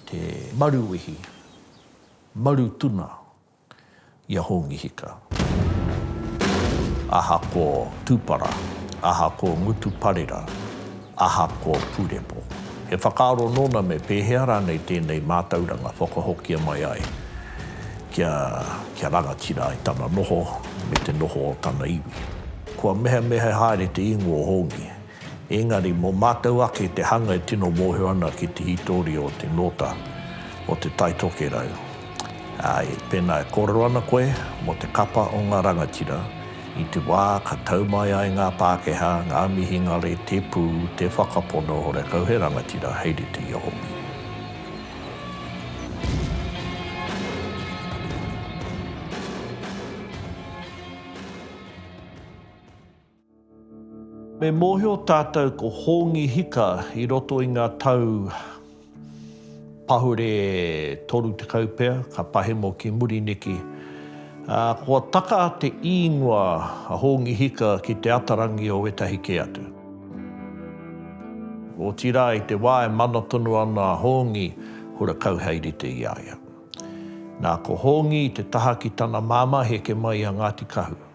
Te Maruwihi, Marutuna i a Hongi Hika. Aha ko Tupara, aha ko Ngutu Parera, aha ko Purepo? He whakaaro nōna me pēhea rānei tēnei mātauranga whakahokia mai ai kia, kia rangatira ai tana noho me te noho o tana iwi. Kua mehemehe haere te ingoa o Hongi Engari, mō mātou ake te hanga e tino mōhio ana ki te hītori o te nōta o Te Tai Tokerau. Āe, pēnā e kōrero ana koe mō te kapa o ngā rangatira, i te wā ka tau mai ai ngā Pākehā, ngā mihingare, te pū, te whakapono horekau he rangatira hei rite i a Hongi. Me mōhio tātou ko Hongi Hika i roto i ngā tau pahure 30 pea, ka pahemo ki muri neki. Ā, kua taka te īngoa a Hongi Hika ki te atarangi o wētahi kē atu. Otirā, i te wā e mana tonu ana a Hongi, hura kau hei rite i a ia. Nā, ko Hongi i te taha ki tana māmā heke mai a Ngāti Kahu.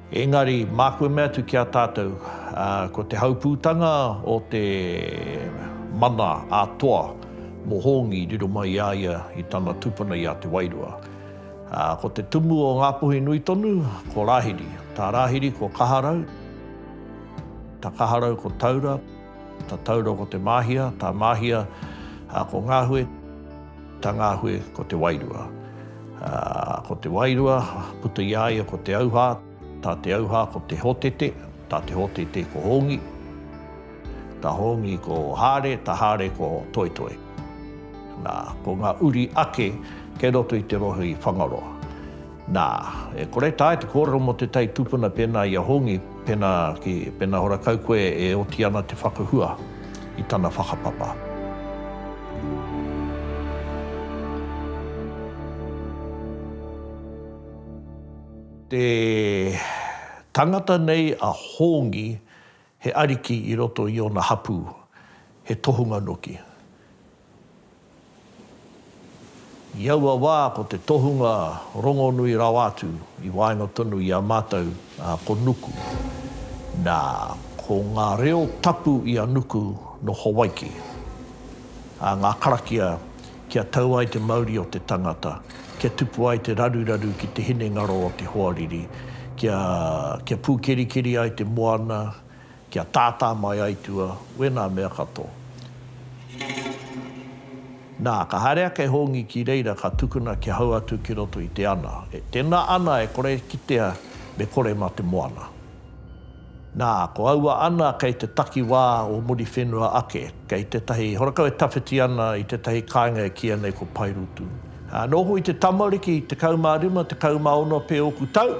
Engari, māku e mea atu ki a tātou, ko te haupūtanga o te mana a Toa mō Hongi riro mai i a ia i tana tupuna i a Te Wairua. Ko te tumu o Ngāpuhi nui tonu, ko Rāhiri. Tā Rāhiri ko Kaharau, tā Kaharau ko Taura, tā Taura ko Te Māhia, tā Māhia ko Ngāhue. Tangahue, ko te wairua. Ko te wairua, puta i a ia ko te auhā, tā te auhā ko te hotete, tā te hotete ko Hongi, tā Hongi ko Hāre, tā Hāre ko Toetoe. Nā, ko ngā uri ake kei roto i te rohe i Whangaroa. Nā, e kore tae te kōrero mō te tai tupuna pēnā i a Hongi, pēnā ki, pēnā hora kau koe e oti ana te whakahua i tana whakapapa. Te tangata nei a Hongi He ariki i roto i ōna hapū, he tohunga noki. I aua wā ko te tohunga rongonui rawa atu i waenga tonu i a mātou ko Nuku. Nā, ko ngā reo tapu i a Nuku nō Hawaiki, ā, ngā karakia kia tau ai te mauri o te tangata, kia tupu ai te raruraru ki te hinengaro o te hoariri, kia, kia pūkerikeri ai te moana, kia tātā mai aitua, wēnā mea katoa. Nā, ka haere ake e Hongi ki reira ka tukuna kia hau atu ki roto i te ana, e, tēnā ana e kore e kitea me kore mā te moana. Nā, ko aua ana kei te takiwā o Muriwhenua ake, kei tētahi horakau e tawhiti ana i tētahi kāinga e kīia nei ko Paerutu. Ā, nōku i te tamariki, tekau mā rima, tekau mā ono pea ōku tau,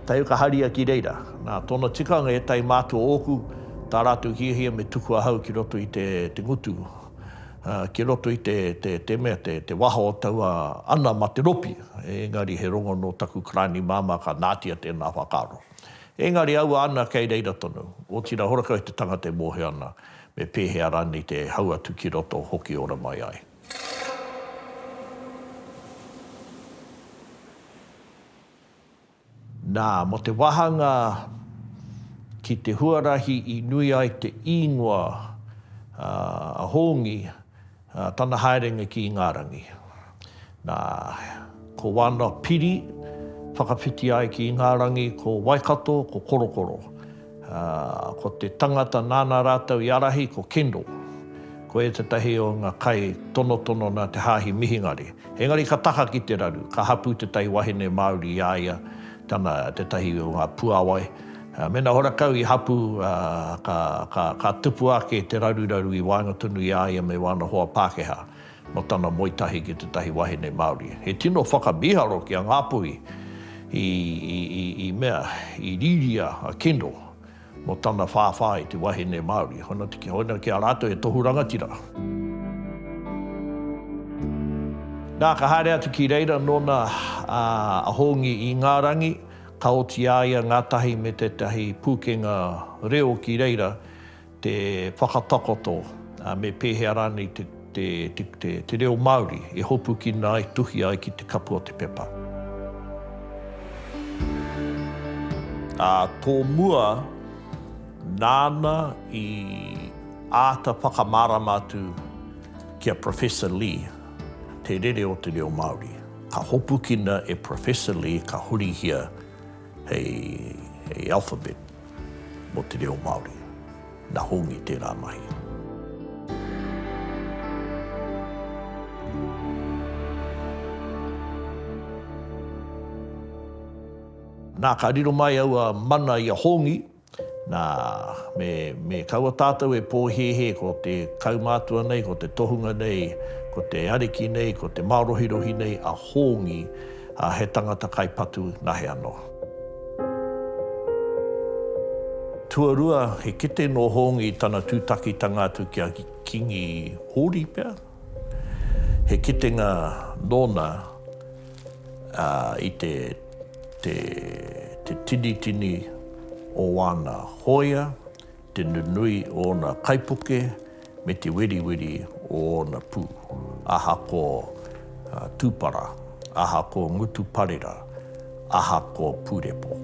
tae ū ka haria ki reira. Nā, tōna tikanga, ētahi mātua ōku, tā rātou hiahia me tuku ahau ki roto i te, te ngutu, ā, ki roto i te, te, te mea, te, te waho o taua ana mā te ropi, engari he rongo nō taku karani māmā ka nātia tēnā whakaaro. Engari aua ana kei reira tonu, otira horakau te tangata e mohe ana me pehea ranei te hau atu ki roto hoki ora mai ai. Na, mo te wahanga ki te huarahi i nui ai te ingoa a Hongi, Tana haerenga ki Ingarangi. Na, ko wana piri whakawhiti ai ki Ingarangi ko Waikato, ko Korokoro. Ko te tangata nāna rātou i arahi ko Kendall. Ko e tetahi o nga kai tonotono na te Hahi Mihingare. Engari ka taka ki te raru, ka hapu tetahi wahine Maori i a ia, tana tetahi o nga puawai, Mēnā horakau i hapū, ka tupu ake te raruraru i waenga tonu i a ia me wana hoa Pākehā mō tana moe tahi ki tētahi wahine Māori. He tino whakamīharo ki a Ngāpuhi i mea, i rīria a Kendall mō tana whāwhā i te wahine Māori. Hoina ki a rātou he tohu rangatira. Nā, ka haere atu ki reira nōna a Hongi Ingarangi, Ka oti a ia ngātahi me tētahi pūkenga reo ki reira te whakatakoto me pēhea rānei te reo Māori e hopukina ai, tuhi ai ki te kapu o te pepa. Ā tō mua, nāna i āta whakamārama atu ki a Professor Lee te rere o te reo Māori. Ka hopukina e Professor Lee ka hurihia hei hei alphabet mo te reo Māori. Na Hongi tērā mahi. Na ka riro mai aua mana i a Hongi Nā, me, me kaua tātou e pōhēhē ko te kaumātua nei, ko te tohunga nei, ko te ariki nei, ko te mārohirohi nei a Hōngi, ā, he tangata kai patu nahe anō. Tuarua, he kete nō Hōngi i tana tūtakitanga atu ki a Kīngi Hōri pea. He kitenga nōna i te tinitini o āna hōia, te nunui o ōna kaipuke, me te weriweri o ōna pū. Aha ko Tūpara, aha ko Ngutu Parera? aha ko Purepo.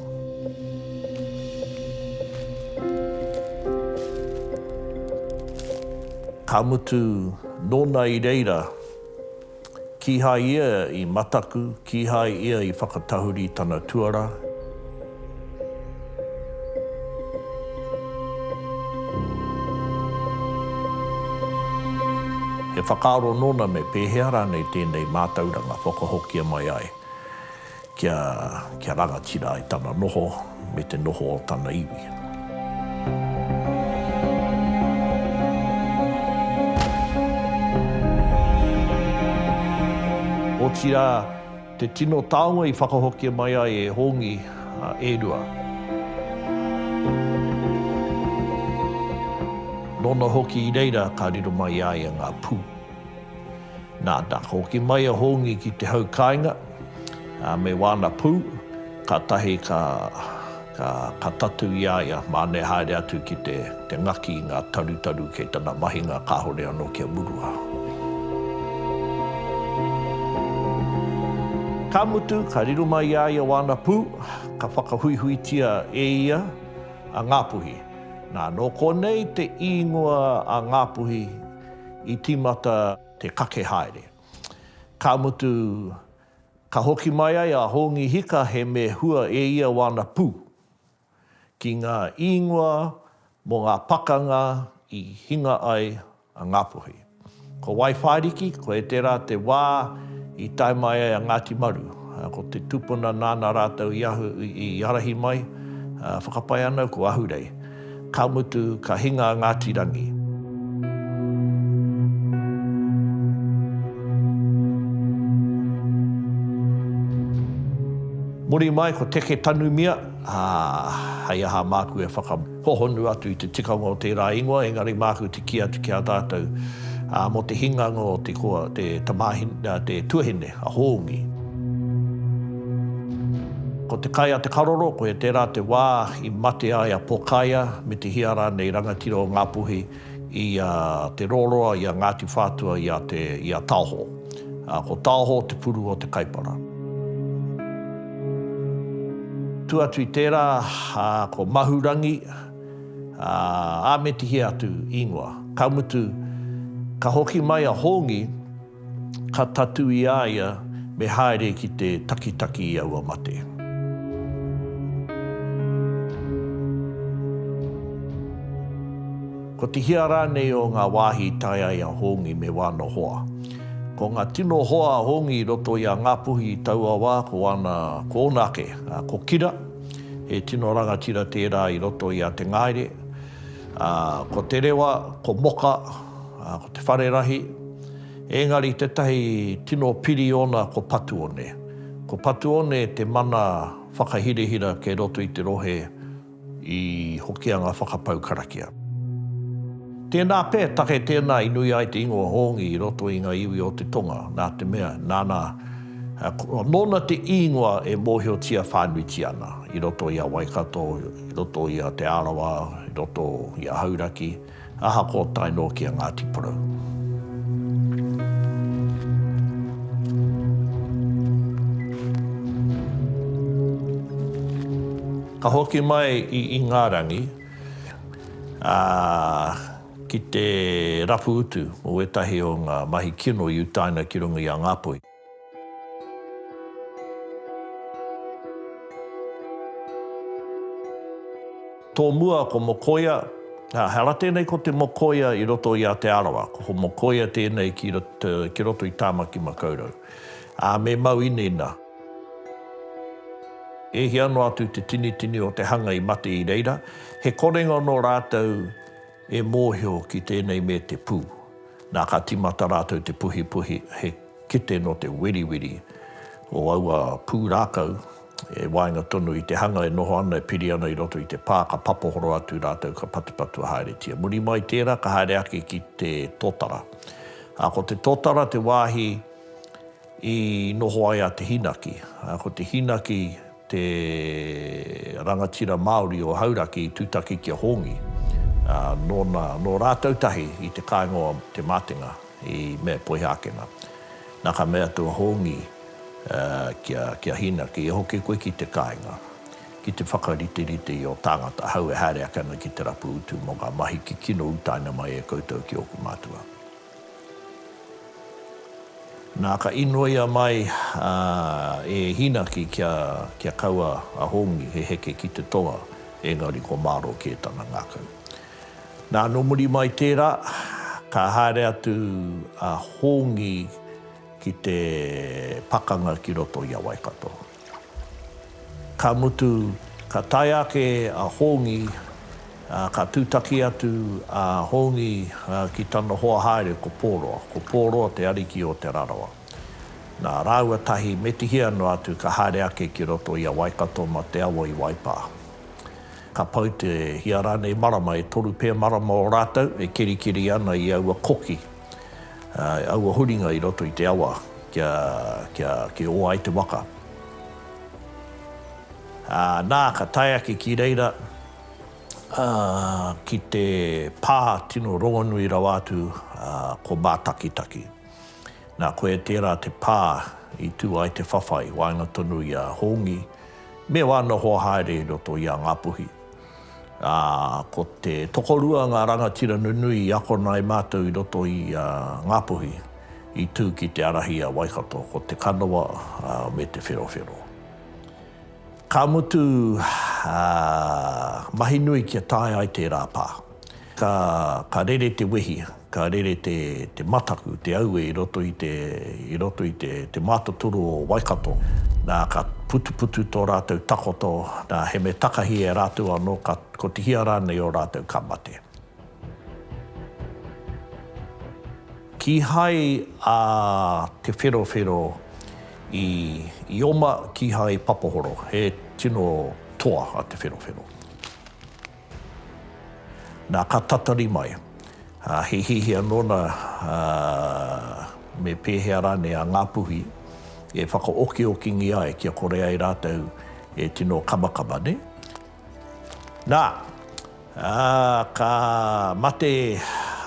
Ka mutu, nōna i reira, kīhai ia i mataku, kīhai ia i whakatahuri tana tuara. He whakaaro nōna me pēhea rānei tēnei mātauranga whakahokia mai ai. Kia, kia rangatira ai tana noho me te noho o tana iwi. Otirā, te tino taonga i whakahokia mai ai e Hongi, e rua. Nōna hoki i reira ka riro mai i a ia ngā pū. Nā, nā, ka hoki mai a Hongi ki te hau kāinga. Me wāna pū, kātahi ka ka tatū i a ia, māne haere atu ki te te ngaki i ngā tarutaru kei tana mahinga kāore anō kia murua. Ka mutu, ka riro mai i a ia wāna pū, ka whakahuihuitia e ia a Ngāpuhi. Nā, nō konei te īngoa a Ngāpuhi i tīmata te kake haere. Ka mutu, ka hoki mai ai a Hongi Hika he me hua e ia wāna pū. Ki ngā īngoa mō ngā pakanga i hinga ai a Ngāpuhi. Ko Waiwhāriki, koe tērā te wā i tae mai ai a Ngāti Maru. Ko te tupuna nāna rātou i ārahi mai, whakapae ana ko Ahurei. Ka mutu, ka hinga a Ngāti Rangi. Muri mai ko Teke Tanumia, ā, hei aha māku e whakahohonu atu i te tikanga o tērā ingoa, engari māku te kī atu ki a tātou, ā, mō te hinganga o te koa, te tamāhine, ā, te tuahine, a Hōngi. Ko te kai a Te Karoro, koia tērā te wā, I mate ai a Pokaia me te hia rānei rangatira o Ngā Puhi i a Te Roroa, i a Ngāti Whātua, i a te, i a Taoho. Ā, ko Taoho te puru o Te Kaipara. Tū atu i tērā, ā, ko Mahurangi, ā, ā me te hia atu īngoa. Ka mutu, ka hoki mai a Hongi. Ka tatū i a ia me haere ki te takitaki i aua mate. Ko te hia rānei o ngā wāhi i tae ai a Hongi me wāna hoa? Ko ngā tino hoa a Hongi i roto i a Ngāpuhi i taua wā ko wāna, ko ōna ake, ā, ko Kira, he tino rangatira tērā i roto i a Te Ngaere, ā, ko Te Rewa, ko Moka, ā, ko Te Wharerahi, Engari tetahi tino piri ona ko Patuone. Ko Patuone te mana whakahirahira kei roto i te rohe i Hokianga whakapau karakia. Tena pe, take tena i nui ai te ingoa Hongi i roto i nga iwi o te tonga, na te mea, nana, nona te ingoa e mohiotia whanuitia ana i roto i a Waikato, i roto i a Te Arawa, i roto i a Hauraki. Ahakoa tae noa ki a Ngāti Porou. Ka hoki mai i Ingarangi, ā, ki te rapu utu o ētahi o ngā mahi kino i utaina ki runga i a Ngāpuhi. Tōmua ko Mokoia, ā, he ara tēnei ko Te Mokoia i roto i a Te Arawa, ko Mokoia tēnei ki ki roto i Tāmaki Makaurau, ā, me mau inaina. E hia noa atu te tinitini o te hanga i mate i reira, he korenga nō rātou E mōhio ki tēnei me te pū. Nā, ka tīmata rātou te puhipuhi, he kete nō te weriweri o aua pū rākau, e waenga tonu i te hanga e noho ana, e piri ana i roto i te pā, ka papohoro atu rātou, ka patupatua haeretia. Muri mai tērā, ka haere ake ki te tōtara. Ā, ko te tōtara te wāhi i noho ai a Te Hinaki. Ā, ko Te Hinaki. te rangatira Māori o Hauraki i tūtaki ki a Hongi, ā, nōna, nō rātou tahi i te kāinga o Te Mātenga i Mea Poihākena. Nā ka mea atu a Hongi, ā, ki a, ki a Hina, Kei hoki koe ki te kāinga, ki te whakariterite i ō tāngata ahau e haere ake ana ki te rapu utu mō ngā mahi kikino utaina mai e koutou ki ōku mātua. Nā, ka inoia mai e Hīnaki kia kaua a Hongi he heke ki te toa, ēngari ko Māro kē tana ngākau. Nā, nō muri mai tērā, ka haere atu a Hongi ki te pakanga ki roto i a Waikato. Ka mutu, ka tae ake a Hongi, ā, ka tūtaki atu a Hongi ki tana hoa haere ko Pōroa. Ko Pōroa te ariki o Te Rarawa. Nā, rāua tahi me Tihia noa atu ka haere ake ki roto i a Waikato mā te awa i Waipā. Ka pau te hia rānei marama, e toru pē marama o rātou e kerikeri ana i aua koki. I aua huringa i roto i te awa kia oa ai te waka. Nā, ka tae ake ki reira, ki te pā tino rongonui rawa atu, ko Mātakitaki. Nā, koia tērā te pā i tū ai te whawhai waenga tonu i a Hongi, me ōna hoa haere i roto i a Ngāpuhi. ā, ko te tokorua ngā rangatira nunui i akona e mātou i roto i a Ngā Puhi i tū ki te ārahi i a Waikato, ko Te Kanawa me Te Wherowhero. Ka mutu, ā, mahi nui kia tae ai tērā pā. Ka, ka rere te wehi, ka rere te, te mataku, te aue i roto i te, i roto i te, te mātotoru o Waikato. Nā, ka putuputu tō rātou takoto, nā, he mea takahi e rātou anō, ka, kotihia rānei ō rātou ka mate. Kīhai a Te Wherowhero i, i oma, kīhai i papahoro. He tino toa a Te Wherowhero. Na, ka tatari mai. He hiahia nōna me pēhea rānei a Ngāpuhi e whakaokiokingia ai kia kore ai rātou e tino kamakama, nē? Na, ka mate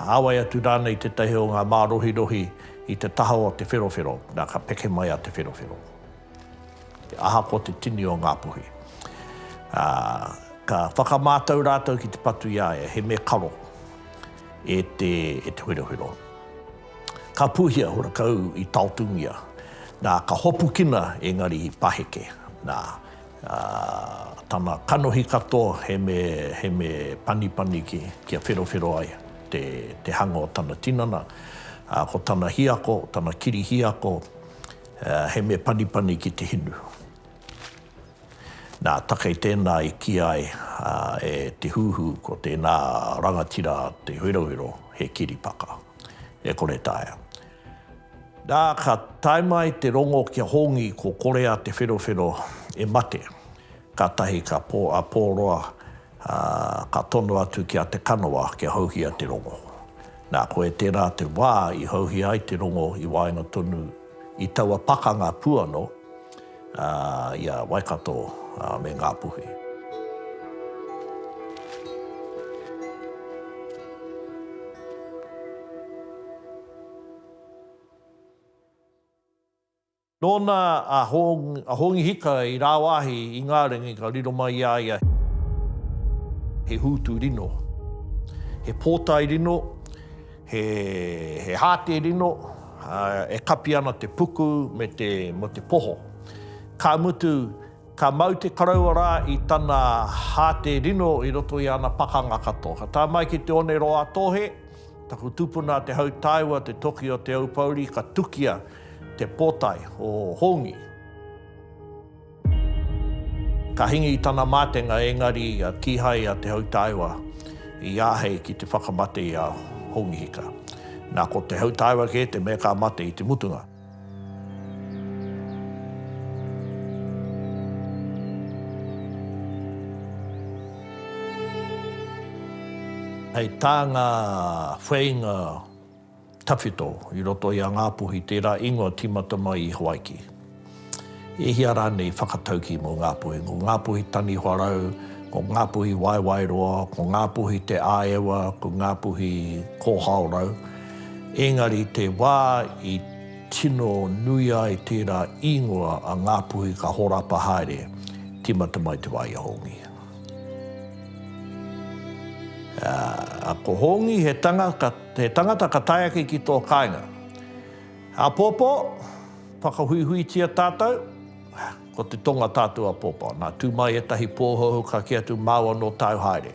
āwai atu rānei tētahi o ngā mārohirohi i te taha o Te Wherowhero, na, ka peke mai a Te Wherowhero. Ahakoa te tini o ngā puhi, ā, ka whakamātau rātou ki te patu i a ia, he mea karo e te, e te Wherowhero. Ka pūhia hurakau i taotungia, nā, ka hopukina engari i paheke, nā, ā, tana kanohi katoa he me, he me panipani ki, kia wherowhero ai te, te hanga o tana tinana, ā, ko tana hiako, tana kiri hiako, He mea panipani ki te hinu. Nā, takei tēnā i kī ai e Te Huhu ko tēnā rangatira a Te Herohero he kiripaka. E kore taea. Nā, ka tae mai te rongo ki a Hongi ko Korea Te Wherowhero e mate, kātahi ka pō a Pōroa Ā, ka tono atu ki a Te Kanawa kia houhia te rongo. Nā, koe tērā te wā i houhia ai te rongo i waenga tonu i taua pakanga puano, ā, i a Waikato me Ngāpuhi. Nōna a Hongi Hika i rāwāhi i ngā ringi ka riro mai i a ia he hūtu rino, he pōtae rino, he hāte rino e kapi ana te puku me te poho. Ka mutu, ka mau te karaua rā i tana hāte rino i roto i ana pakanga katoa. Ka tae mai ki te one roa a Tōhe, Taku tupuna a Te Hautaiwa, Te Toki o Te Aupouri, ka tukia te potae o Hongi. Ka hingi i tana mātenga engari kīhai a Te Hautaiwa i āhei ki te whakamate i a Hongi Hika. Nā ko Te Hautaiwa kē te mea ka mate i te mutunga. Hei tā ngā wheinga tawhito i roto i a Ngāpuhi tērā ingoa tīmata mai i Hawaiki. E hia rānei whakataukī mō Ngāpuhi? Ko Ngāpuhi Taniwha Rau, ko Ngāpuhi Waewaeroa, ko Ngāpuhi Te Āewa, ko Ngāpuhi Kōhao Rau. Ēngari i te wā i tino nui ai tērā īngoa a Ngāpuhi ka horapa haere, tīmata mai te wā i a Hongi. Ā, ko Hongi he tangata ka tae ake ki tō kāinga. Āpōpō, Whakahuihuitia tātou, ko te tonga tātou āpōpō. Nā, tū mai ētahi pōhouhou ka kī atu, Māua nō tāu haere.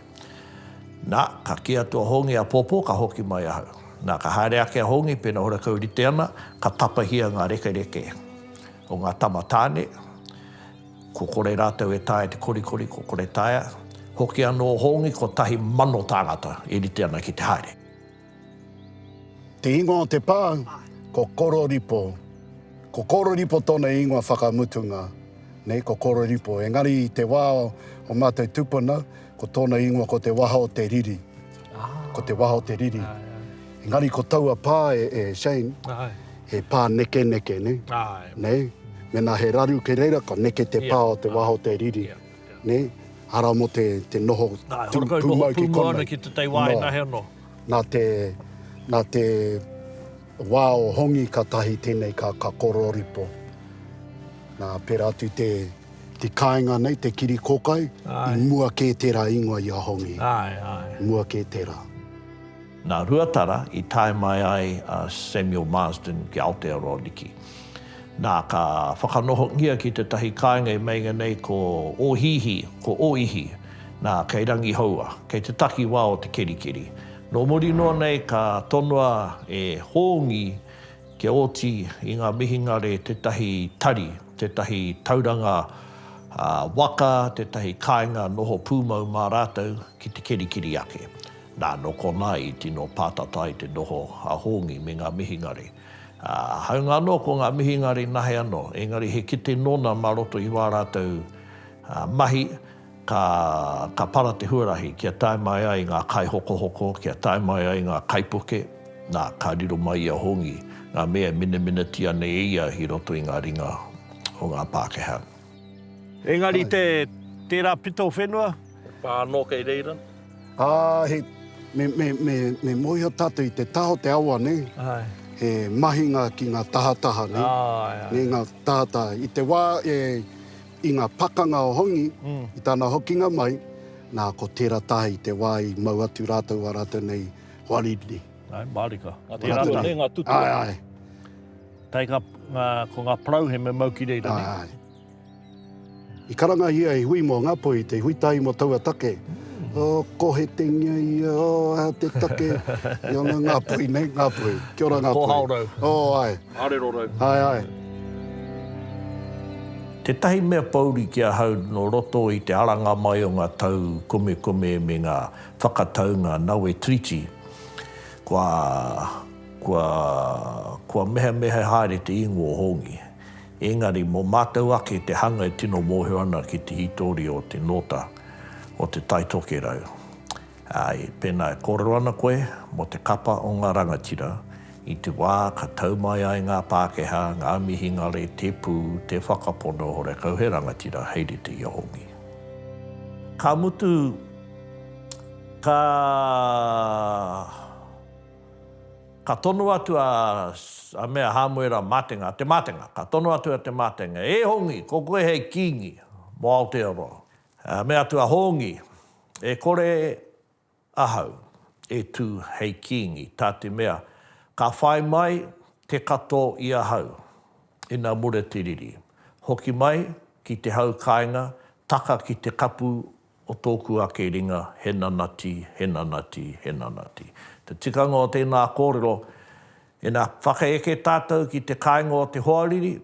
Nā, ka kī atu a Hongi, Āpōpō, ka hoki mai ahau. Nā, ka haere ake a Hongi, pēnā horekau rite ana, ka tapahia ngā rekereke o ngā tama tāne, ko kore rātou e taea te korikori, ko kore taea. Hoki anō Hongi, kotahi mano tāngata e rite ana ki te haere. Te ingoa o te pā, ko Kororipo. Ko Kororipo tōna ingoa whakamutunga, nei ko Kororipo. Engari i te wā o mātou tupuna, ko tōna ingoa ko Te Waha o te Riri. Ko Te Waha o te Riri. Engari ko taua pā e, e Shane, he pā nekeneke, nei? Nei? Mēnā he raru ki reira, ka neke te pā o Te Waha o te Riri. Nē, arā mō te, te noho pūmau ki konei. Noa, ki te tei wāina he anō. Nā te, nā te wā o Hongi ka tahi tēnei ka, ka kororipo. Nā, pērā atu te, te kāinga nei, te kiri kokai, i mua kē tērā ingoa i a Hongi. Āe, āe. Mua kē tērā. Nā Ruatara i tae mai ai a Samuel Marsden ki Aotearoa Niki. Nā, ka whakanohongia ki tētahi kāinga i meinga nei ko Ōhihi, ko Ōihi, nā, kei Rangihoua, kei te takiwā o Te Kerikeri. Nō muri noa nei ka tonoa e Hōngi kia oti i ngā mihingare tētahi tari, tētahi tauranga waka, tētahi kāinga noho pūmau mā rātou ki Te Kerikeri ake. Nā, nō konā i tino pātata i te noho a Hongi me ngā mihingare. Ā, hāunga anō ko ngā mihingare nahe anō, engari he kete nōna mā roto i wā rātou mahi, ka, ka para te huarahi kia tae mai ai ngā kaihokohoko, kia tae mai ai ngā kaipuke, nā, ka riro mai i a Hongi ngā mea e menemenetia nei e ia i roto i ngā ringa o ngā Pākehā. Engari te, tērā pito whenua? He pā anō kei reira? Ā, he, me, me, me, me mōhio tātou i te taha o te awa, nē? Āe. He mahinga ki ngā tahataha, nē? Āe, āe. Nē, ngā tahataha. I te wā e, i ngā pakanga o Hongi, mm. i tāna hokinga mai, nā, ko tērā taha i te wā i mau atu rātou a rātou nei hoa Ridley. Ai, mārika. Ngā te rātou nei, ngā tutua. Ai, ai. Kai ngā, ngā, ko ngā parau he me mau ki reira, nē? Ai, ai. I karangahia he hui mō Ngāpuhi, te hui tahi mō taua take. Ō, kohetengia ia, ō, aha te take? Ia nga Ngāpuhi nei, Ngāpuhi. Kia ora Ngāpuhi. Kōhao rau. Ō, āe. Arero rau. Āe, āe. Tētahi mea pouri ki ahau nō roto i te aranga mai o ngā tau komekome me ngā whakataunga Nawe Treaty, kua, kua, kua mehemehe haere te ingoa o Hongi. Engari, mō mātou ake te hanga e tino mōhio ana ki te hītori o te nōta o Te Tai Tokerau. Āe, pēnā e kōrero ana koe mō te kapa o ngā rangatira, i te wā ka tau mai ai ngā Pākehā, ngā Mihingare, te pū, te whakapono, horekau he rangatira hei rite i a Hongi. Ka mutu, ka. Ka tono atu a, a me a Hamuera, Matenga, te matenga, ka tono atu a te matenga, E Hongi, ko koe hei kingi mo Aotearoa. A me atu a Hongi, E kore ahau e tu hei kingi, ta te mea ka whai mai te kato i ahau ina mure te riri. Hoki mai ki te hau kainga taka ki te kapu O tōku ake ringa, he nanati, he nanati, he nanati. Te tikanga o tēnā kōrero, ina whakaeke tātou ki te kāinga o te hoariri,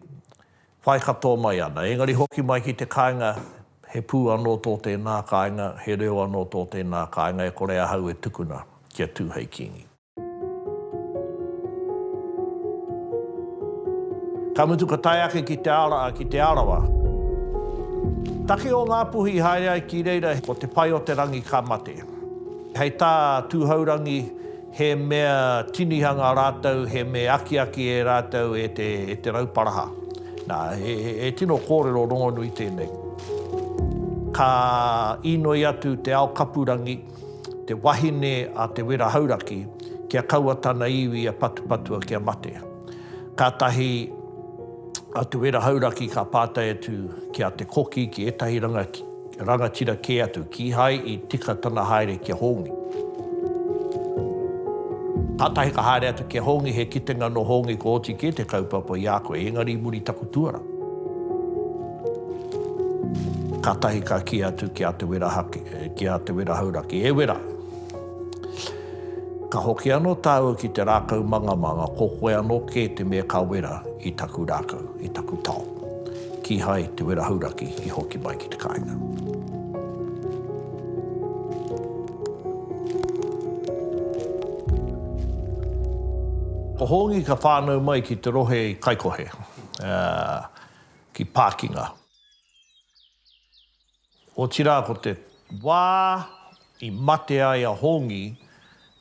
whai katoa mai ana. Engari hoki mai ki te kāinga, he pū anō tō tēnā kāinga, he reo anō tō tēnā kāinga, e kore ahau e tukuna kia tū hei Kīngi. Ka mutu ka tae ake ki Te Araa, ki Te Arawa. Take o Ngāpuhi i haere ai ki reira, ko Te Paeoterangi ka mate. Hei tā Tūhourangi, he mea tinihanga rātou, he mea akiaki e rātou e te, e te Rauparaha. Nā, he tino kōrero rongonui tēnei. Ka inoi atu te ao kapurangi. te wahine a Te Wera Hauraki, kia kaua tana iwi a Patupatua kia mate. Kātahi a Te Wera Hauraki ka pātai atu ki a Te Koki ki ētahi rangatira kē atu, kīhai i tika tana haere ki a Hongi. Kātahi ka haere atu ki a Hongi, he kitenga nō Hongi kua oti kē te kaupapa i a koe, engari i muri taku tuara. Kātahi ka kī atu ki a Te Wera Hake, E ki a Te Wera Hauraki, E Wera, ka hoki anō tāua ki te rākau mangamanga, ko koe anō kē te mea ka wera i taku rākau, i taku tao. Kīhai Te Wera Hauraki i hoki mai ki te kāinga. Ko Hongi ka whānau mai ki te rohe i Kaikohe, ki Pākinga. Otirā ko te wā i mate ai a Hongi,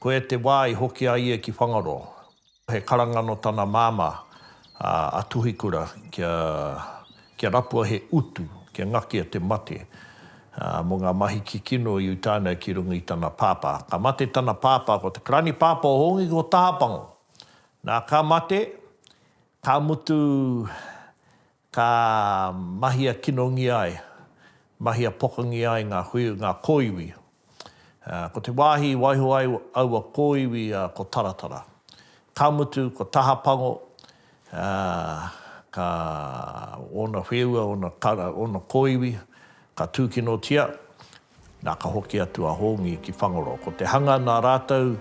koia te wā i hoki a ia ki Whangaroa. He karanga nō tana māmā, a Tuhikura, kia, kia rapua he utu, kia ngakia te mate, mō ngā mahi kikino i uta ana ki runga i tana pāpā. Ka mate tana pāpā, ko te karani pāpā o Hongi ko Tahapango. Nā, ka mate, ka mutu Ka mahia kinongia ai, mahia pokangia ai ngā hui, ngā kōiwi. Ko te wāhi i waiho ai aua kōiwi ko Taratara. Ka mutu, ko Tahapango, ka, ōna wheua, ōna kara, ōna kōiwi, ka tūkinotia, Nā, ka hoki atu a Hongi ki Whangoro. Ko te hanga nā rātou,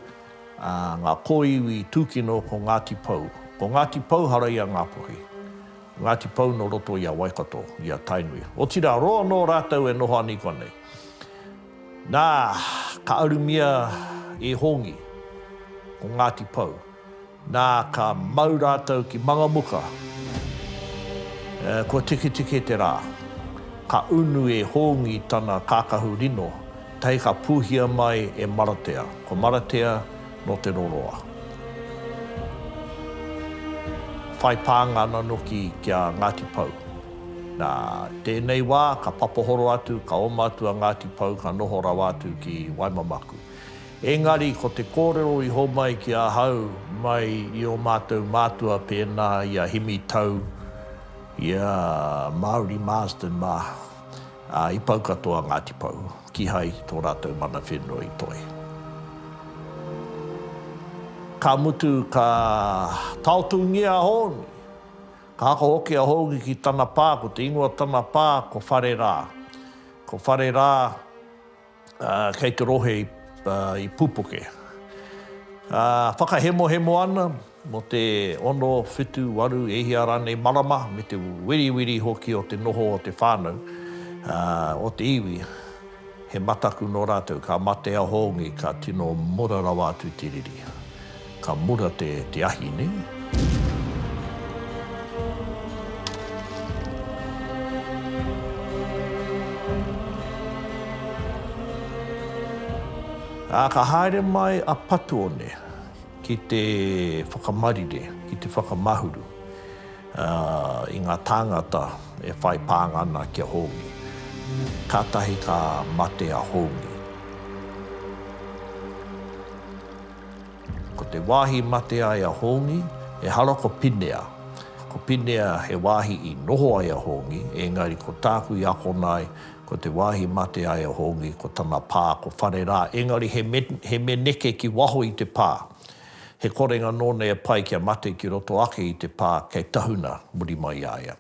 ā, ngā kōiwi tūkino ko Ngāti Pou. Ko Ngāti Pou hara i a Ngāpuhi. Ko Ngāti Pou nō roto i a Waikato, i a Tainui. Otirā, roa anō rātou e noho ana i konei. Nā, ka arumia e Hongi ko Ngāti Pou. Nā, ka mau rātou ki Mangamuka. Kua tiketike te rā. Ka unu e Hōngi tana kākahu rino, tae ka pūhia mai e Maratea. Ko Maratea nō Te Roroa. Whai pānga ana noki ki a Ngāti Pou. Nā, tēnei wā, ka papahoro atu, ka oma atu a Ngāti Pou, ka noho rawa atu ki Waimamaku. Engari ko te kōrero i homai ki ahau mai i ō mātou mātua pēnā i a Himi Tau, i a Mauri Marsden mā, ā, i pau katoa Ngāti Pou, kihai tō rātou mana whenua i toe. Ka mutu ka taotūngia a Hōni. Ka ako hoki a Hōni ki tana pā, ko te ingoa tana pā ko Whare Rā. Ko Whare Rā. kei te rohe i Pupuke. Whakahemohemo ana mō te ono, whitu, waru, e hia rānei marama me te wiriwiri hoki o te noho o te whānau, o te iwi, he mataku nō rātou, ka mate a Hongi, ka tino mura rawa atu te riri. Ka mura te te ahi ne. A ka haere mai a Patuone ki te whakamarire, ki te whakamahuru i nga tāngata e whai pānga ana ki a Hōngi. Kātahi ka mate a Hōngi. Ko te wāhi i mate ai a Hongi, ehara ko Pinea. Ko Pinea he wāhi i noho ai a Hongi, engari ko tāku i akona ai, ko te wāhi i mate ai a Hongi, ko tana pā, ko Whare rā, engari he me, he me neke ki waho i te pā. He korenga nōna e pai kia mate ki roto ake i te pā kei tahuna muri mai i a ia.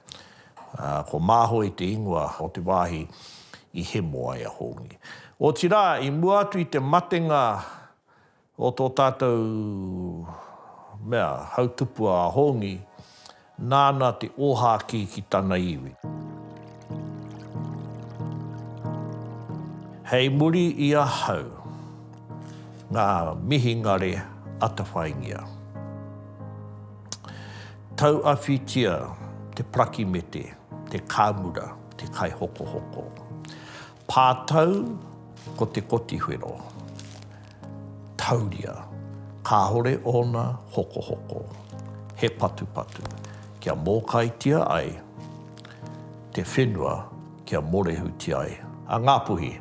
Ā, ko Māhoe te ingoa o te wāhi i hemo ai a Hongi. Otirā, i mua atu i te matenga o tō tātou mea, hautupua a Hongi, nāna te ōhākī ki tana iwi. Hei muri i ahau ngā mihingare atawhaingia. Tauawhitia te prakimete, te kāmura, te kaihokohoko. Pātau, ko te kotiwhero. Tauria, kāore ōna hokohoko. He patupatu, kia mōkaitia ai te whenua kia morehutia ai a Ngāpuhi.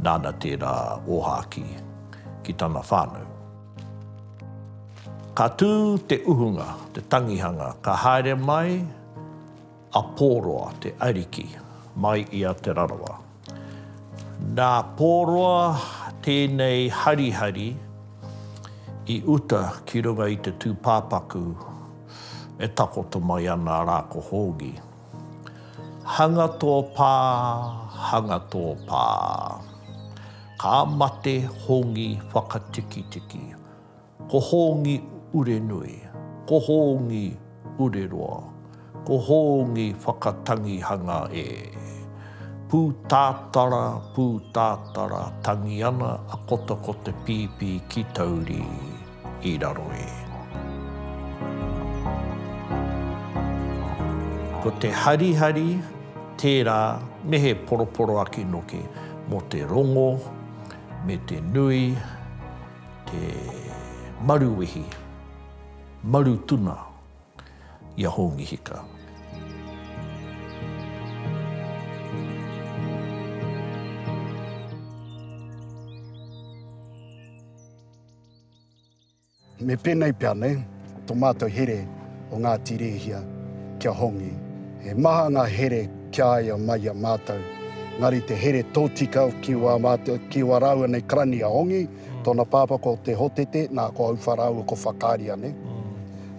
Nāna tērā ōhākī ki tana whānau. Ka tū te uhunga, te tangihanga, ka haere mai A Pōroa, te ariki, mai i a Te Rarawa. Nā Pōroa tēnei harihari i uta ki runga i te tūpāpaku e takoto mai ana rā ko Hōngi. Hanga tō pā, hanga tō pā. Ka mate Hongi whakatikitiki. Ko Hōngi Urenui, ko Hōngi Ureroa, ko Hōngi Whakatangihanga e. Pūtātara, pūtātara, tangi ana a Kota ko te pīpī ki Tauri i raro e. Ko te harihari tērā me he poroporoaki noke mō te rongo me te nui. Te maruwehi, maru tuna i a Hongi Hika. Me penei pea nei. To matou here o Ngati Rehia kia hongi. He maha nga here kia aia mai a matou. Engari te here totika ki wa matou, ki wa raua nei karani a Hongi, tona papa ko Te Hotete, na ko Aufa raua ko Whakaria ne.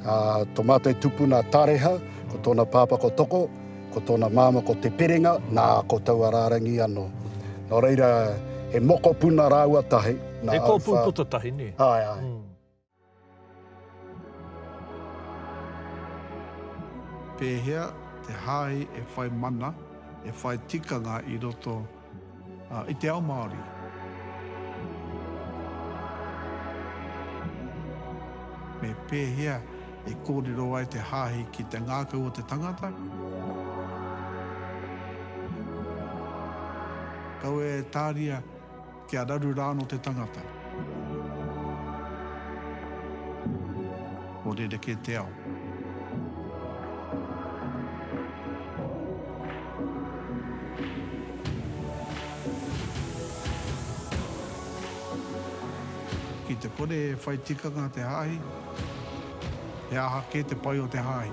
A to matou tupuna a Tareha, ko tona papa ko Toko, ko tona mama ko Te Perenga, na ko taua rarangi ano. No reira he mokopuna raua tahi, na Aufa. He kopu puta tahi ne. Ae, ae. Pēhea te hāhi e whai mana, e whai tikanga i roto i te ao Māori? Me pēhea e kōrero ai te hāhi ki te ngākau o te tangata? Kaua e tāria kia raru rāno te tangata. Nō rerekē te ao. Ki te kore e whai tikanga te hāhi, he aha kē te pai o te hāhi?